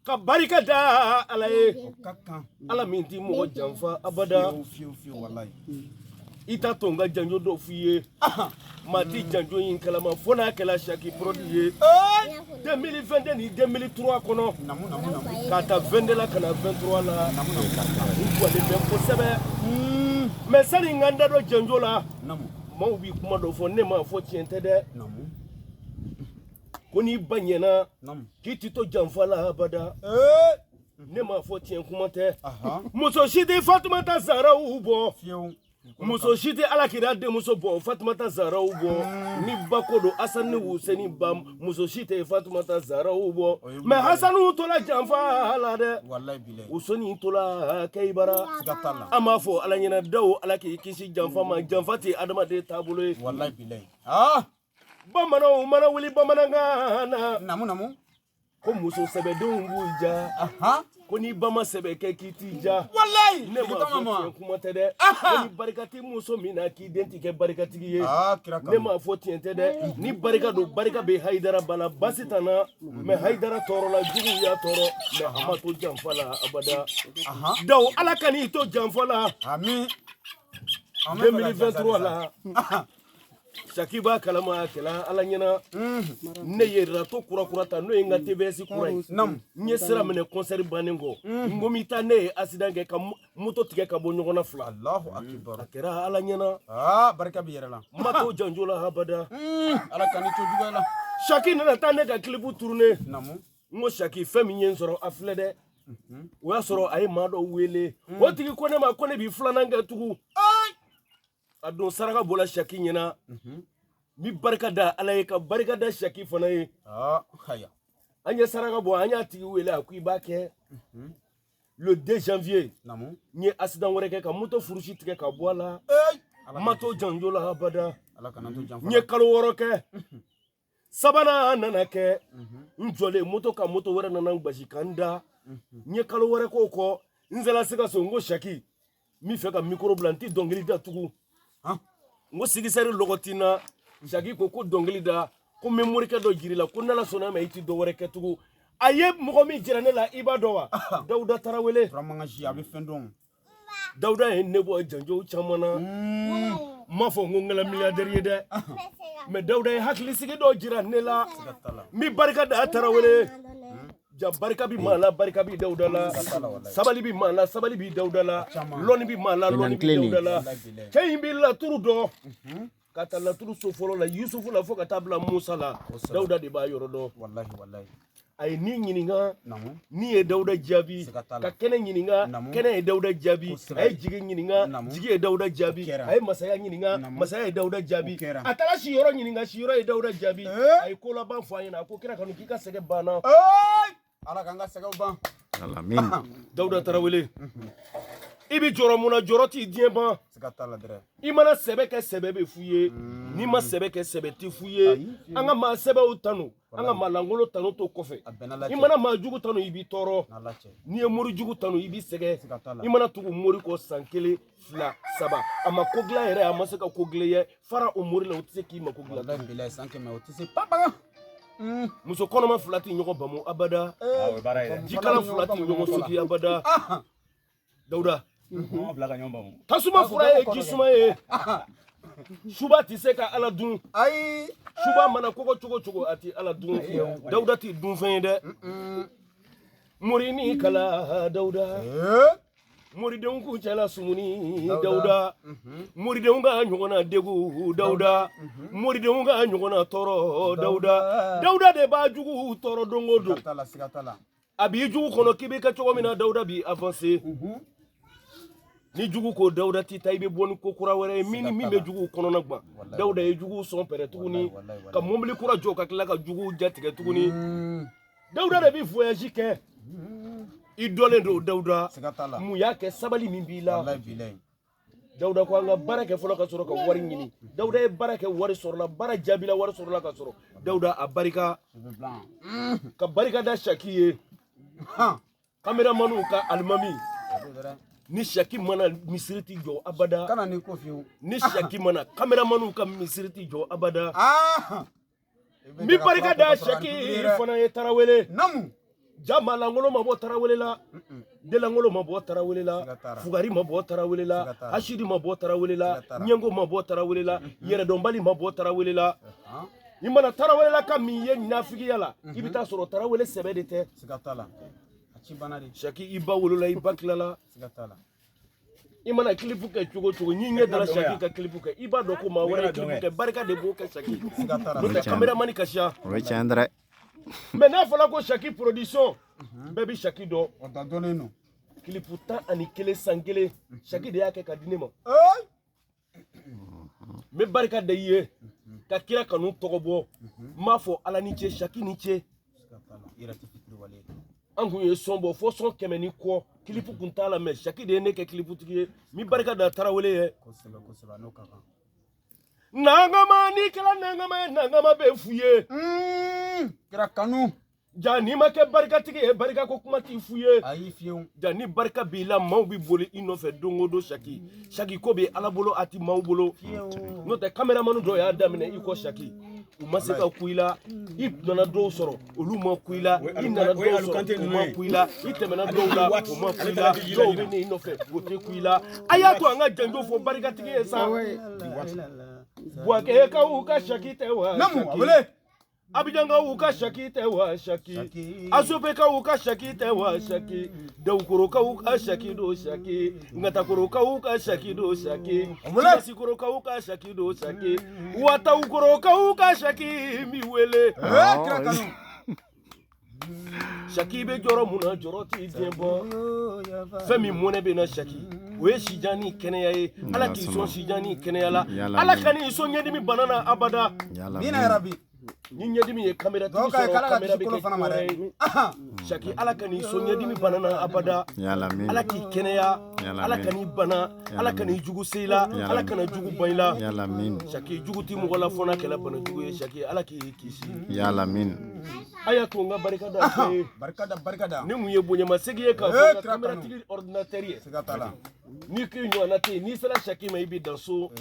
ka barika da ala ye ala min ti mɔgɔ janfa abada i t'a to n ka janjo dɔ f'i ye maa ti janjo in kalama fo n'a kɛla saki pɔrɔdi ye 2022 ni 2003 kɔnɔ k'a ta 22 la ka na 23 la u jɔlen bɛ kosɛbɛ mais sani n ka n da don janjo la maaw bi kuma dɔ fɔ ne m'a fɔ tiɲɛ tɛ dɛ ko n'i ba ɲɛna k'i ti to janfa la abada ne m'a fɔ tiɲɛ kuma tɛ muso si tɛ fatumata zaraw bɔ muso si tɛ ala kira denmuso bɔ fatumata zaraw bɔ ni ba ko don asan ni wuseni ba muso si tɛ fatumata zaraw bɔ mais hasanu tola janfa la dɛ wuseni tola kɛyibara an b'a fɔ ala ɲɛna daw ala k'i kisi janfa ma janfa tɛ adamaden taabolo ye bamananw mana wuli bamanankan na namu namu ko muso sɛbɛ denw b'u ja ko n'i ba ma sɛbɛ kɛ k'i t'i ja walayi ne m'a fɔ tiɲɛ kuma tɛ dɛ ko ni barika tɛ muso min na k'i den ti kɛ barikatigi ye ah, ne m'a fɔ tiɲɛ tɛ dɛ ni barika don barika bɛ hayidara ba na basi t'a na mais hayidara tɔɔrɔla jugu y'a tɔɔrɔ mais a ma to janfa la abada daw ala kan'i to janfa la 2023 la Saki b'a kalama a kɛla ala ɲɛna ne ye rato kura kura ta n'o ye n ka TVS kura ye n ye sira minɛ kɔnsɛri bannen kɔ n ko n bɛ taa ne ye accident kɛ ka moto tigɛ ka bɔ ɲɔgɔn na fila a kɛra ala ɲɛna barika bɛ yɛrɛ la n ma to janjo la abada ala kan'i to juguya la saki nana taa ne ka clip tourner n ko saki fɛn min ye n sɔrɔ a filɛ dɛ o y'a sɔrɔ a ye maa dɔ wele o tigi ko ne ma ko ne bi filanan kɛ tugun a don saraka bɔla saki ɲɛna n bi barika da ala ye ka barika da saki fana ye an ye saraka bɔ an y'a tigi wele a ko i b'a kɛ le 2 janvier n ye accident wɛrɛ kɛ ka moto furusi tigɛ ka bɔ a la n ma to janjo la abada n ye kalo wɔɔrɔ kɛ sabanan nana kɛ n jɔlen moto kan moto wɛrɛ nana n gosi ka n da n ye kalo wɛrɛ k'o kɔ n sela se ka so n ko saki n bɛ fɛ ka mikoro bila n tɛ dɔnkili da tugun n ko sigisɛri lɔgɔ ti n na saki ko ko dɔnkili da ko n bɛ morikɛ dɔ jir'i la ko n'ala sɔnna ma i tɛ dɔ wɛrɛ kɛ tugun a ye mɔgɔ min jira ne la i b'a dɔn wa dawuda tarawele a bɛ fɛn dɔn Dawuda ye ne bɔ janjo caman na n m'a fɔ n ko n kɛla milliardaire ye dɛ mais Dawuda ye hakilisigi dɔ jira ne la n bɛ barika da Tarawele ja barika bi maa la barika bi Dawuda la sabali bi maa la sabali bi Dawuda la lɔnni bi maa la lɔnni bi Dawuda la cɛ in bi laturu dɔn ka ta laturu so fɔlɔ la yusufu la fo ka taa bila musa la dawuda de b'a yɔrɔ dɔn walahi walahi a ye ni ɲininka ni ye dawuda jaabi ka kɛnɛ ɲininka kɛnɛ ye dawuda jaabi a ye jigi ɲininka jigi ye dawuda jaabi a ye masaya ɲininka masaya ye dawuda jaabi a taara si yɔrɔ ɲininka si yɔrɔ ye dawuda jaabi a ye kolaban fɔ a ɲɛna a ko kira kanu k'i ka sɛgɛn banna ala k'an ka sɛgɛnw ban dawuda tarawele i bɛ jɔrɔ mun na jɔrɔ ti diɲɛ ban i mana sɛbɛ kɛ sɛbɛ bɛ f'u ye mm. n'i ma sɛbɛ kɛ sɛbɛ tɛ f'u ye an ka maa sɛbɛw tanu an ka maa lankolon tanu to kɔfɛ i mana maa jugu tanu i b'i tɔɔrɔ n'i ye mori jugu tanu i b'i sɛgɛn i mana tugu mori kɔ san kelen fila saba a ma ko dilan yɛrɛ a ma se ka ko dilan i ye fara o mori la o tɛ se k'i mako dilan walahi bilahi san kɛmɛ o tɛ se papa muso kɔnɔma fila tɛ ɲɔgɔn bamu abada Ah, o ye baara ye dɛ. jikalan fila tɛ ɲɔgɔn sotigi abada dawuda Mɔgɔ fila ka ɲɔgɔn bamu. tasuma fura ye ji suma ye suba tɛ se ka ala dun ayi suba mana kɔgɔ cogo cogo a tɛ ala dun dawuda tɛ dunfɛn ye dɛ mori ni kala dawuda ee moridenw kuncɛ la sumuni dawuda moridenw ka ɲɔgɔnna degun dawuda moridenw ka ɲɔgɔnna tɔɔrɔ dawuda dawuda de b'a jugu tɔɔrɔ don o don a b'i jugu kɔnɔ k'i bɛ kɛ cogo min na dawuda bi avanse ni jugu ko dawuda ti taa i bɛ bɔ ni ko kura wɛrɛ ye min bɛ juguw kɔnɔna gwan dawuda ye juguw sɔn pɛrɛn tuguni ka mobili kura jɔ ka tila ka juguw jatigɛ tuguni dawuda de bɛ voyage kɛ i dɔnlen don dawuda mun y'a kɛ sabali min b'i la dawuda ko an ka baara kɛ fɔlɔ ka sɔrɔ ka wari ɲini dawuda ye baara kɛ wari sɔrɔla baara jaabila wari sɔrɔla ka sɔrɔ dawuda a barika ka barika da saki ye kameramaniw ka alimami ni saki ma na misiri ti jɔ abada kana ni ko fiyewu ni saki ma na kameramaniw ka misiri ti jɔ abada n bɛ barika da saki fana ye tarawele naamu jaa maalankolon ma bɔ tarawele la denlankolon ma bɔ tarawele la fugari ma bɔ tarawele la hasidi ma bɔ tarawele la ɲɛngo ma bɔ tarawele la yɛrɛdɔnbali ma bɔ tarawele la i mana tarawelelaka min ye nafigiya la i bɛ taa sɔrɔ tarawele sɛbɛ de tɛ saki i ba wolola i ba tilala i mana kilipu kɛ cogo cogo n'i ɲɛ dara saki ka kilipu kɛ i b'a dɔn ko maa wɛrɛ kilipu kɛ barika de b'o kɛ saki n'o tɛ kameramani ka siya o ye tiɲɛ dɛ mɛ n'a fɔra ko saki production bɛɛ bɛ saki dɔn o ta dɔnnen don kilipu tan ani kelen san kelen saki de y'a kɛ ka di ne ma n bɛ barika da i ye ka kira kanu tɔgɔ bɔ n b'a fɔ ala ni ce saki ni ce an kun ye sɔn bɔ fo sɔn kɛmɛ ni kɔ kilipu kun t'a la mɛ saki de ye ne kɛ kiliputigi ye n bi barika da tarawele ye nankama n'i kɛra nankama ye nankama bɛ fɔ i ye kira kanu ja n'i ma kɛ barikatigi ye barika ko kuma ti fɔ i ye ayi fiyewu ja ni barika b'i la maaw bɛ boli i nɔfɛ don o don saki saki ko bɛ ala bolo a ti maaw bolo n'o tɛ kameramani dɔw y'a daminɛ i kɔ saki u ma se ka kun i la i nana dɔw sɔrɔ olu ma kun i la i nana dɔw sɔrɔ u ma kun i la i tɛmɛna dɔw la u ma kun i la dɔw bɛ na i nɔfɛ o tɛ kun i la a y'a to an ka janjo fɔ barikatigi ye sa buwakɛkaw ka saki tɛ wa Namu, Saki. abele abijanga u ka saki tɛ wa saki asopeka u ka saki tɛ wa saki dawukorokaw ka saki do saki ngatakorokaw ka saki do saki sikorokaw ka saki do saki watawukorokaw ka saki mi wele Saki i bɛ jɔrɔ mun na jɔrɔ tɛ diɲɛ bɔ fɛn min mɔnɛ bɛ na saki o ye sijan ni kɛnɛya ye ala k'i sɔn sijan ni kɛnɛya la ala kan'i sɔn ɲɛdimi bana na abada bi ni ɲɛdimi ye kamalen saki ala kan'i sɔn ɲɛdimi bana na abada ala k'i kɛnɛya ala kan'i bana ala kan'i jugu se i la ala kana jugu ba i la saki jugu tɛ mɔgɔ la fo n'a kɛra banajugu ye saki ala k'i kisi yalalamina a y'a to n ka barika da barika da barika da ni mun ye bonyamasegin ye katigi teri ye n'i k'i ɲɔgɔnna tɛ yen n'i sera saki ma i bɛ dan so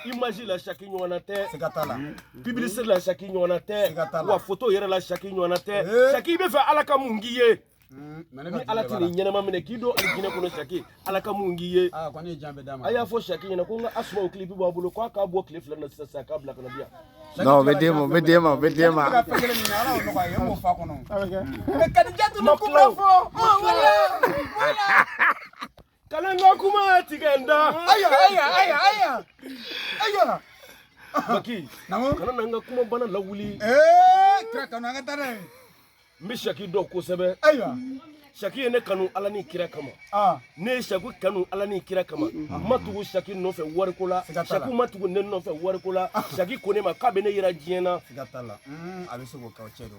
imaji la saki ɲɔgɔnna tɛ pibilisite la saki ɲɔgɔnna tɛ wa foto yɛrɛ la saki ɲɔgɔnna tɛ saki i b'a fɛ ala ka mun k'i ye Mm, ni ala tɛn'i ɲɛnama minɛ k'i don alijinɛ kɔnɔ saki ala ka mun k'i ye ah, a y'a fɔ saki ɲɛna ko n ka asumaw kilipu b'a bolo k'a k'a bɔ tile fila na sisan sisan k'a bila kana bi yan non o bɛ d'e ma o bɛ d'e ma o bɛ d'e ma kadijatu ma kuma fɔ wala wala Kana n ka kuma tigɛ n da. Aya aya aya aya. Aya. Baki. Namu. Kana na n ka kuma bana lawuli. Eh, kira kanu an ka tare. N bi shaki dɔn kosɛbɛ. Aya. Shaki ye ne kanu ala ni kira kama. Ah. Ne shaki kanu ala ni kira kama. Ah. N ma tugu shaki nɔfɛ wari ko la. Shaki ma tugu ne nɔfɛ wari ko la. Ah. Shaki ko ne ma k'a bɛ ne yira diɲɛ na. Siga t'a la. Mm, a bɛ se k'o kɛ o cɛ don.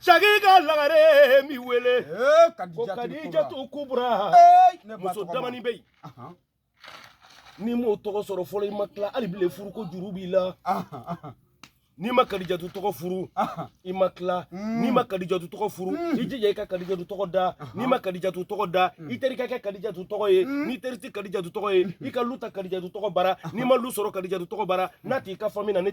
Saki ka lagare n bi wele kadijatu kubra muso damani bɛ yen n'i m'o tɔgɔ sɔrɔ fɔlɔ i ma tila hali bi le furu ko juru b'i la n'i ma kadijatu tɔgɔ furu i ma tila hmm. n'i ma kadijatu tɔgɔ furu hmm. i jija i ka kadijatu tɔgɔ da n'i ma kadijatu tɔgɔ da hmm. i teri ka kɛ kadijatu tɔgɔ ye n'i teri ti kadijatu tɔgɔ ye i ka lu ta kadijatu tɔgɔ bara n'i ma lu sɔrɔ kadijatu tɔgɔ bara n'a t'i ka fami na ne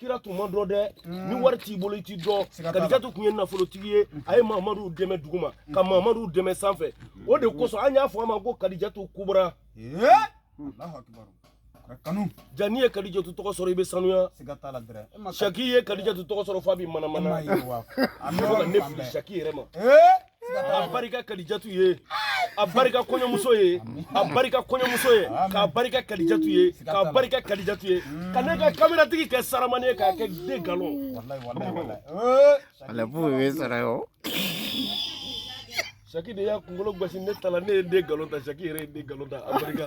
kira tun ma dɔn dɛ ni mm. wari t'i bolo i tɛ dɔn kadijatu tun ye nafolotigi ye a ye mamadu dɛmɛ duguma mm. ka mamadu dɛmɛ sanfɛ mm. o de kosɔn an y'a fɔ a ma ko kadijatu kubura kanu ja n'i ye kadijatu tɔgɔ sɔrɔ i bɛ sanuya saki ye kadijatu tɔgɔ sɔrɔ f'a bɛ manamana ne fili saki yɛrɛ ma a barika kadijatu ye a barika kɔɲɔmuso ye a barika kɔɲɔmuso ye k'a barika kadijatu ye k'a barika kadijatu ye ka ne ka kameratigi kɛ saramani ye k'a kɛ den galon ale b'o ye sara yo saki de y'a kunkolo gosi ne ta la ne ye den galon ta saki yɛrɛ ye den galon ta a barika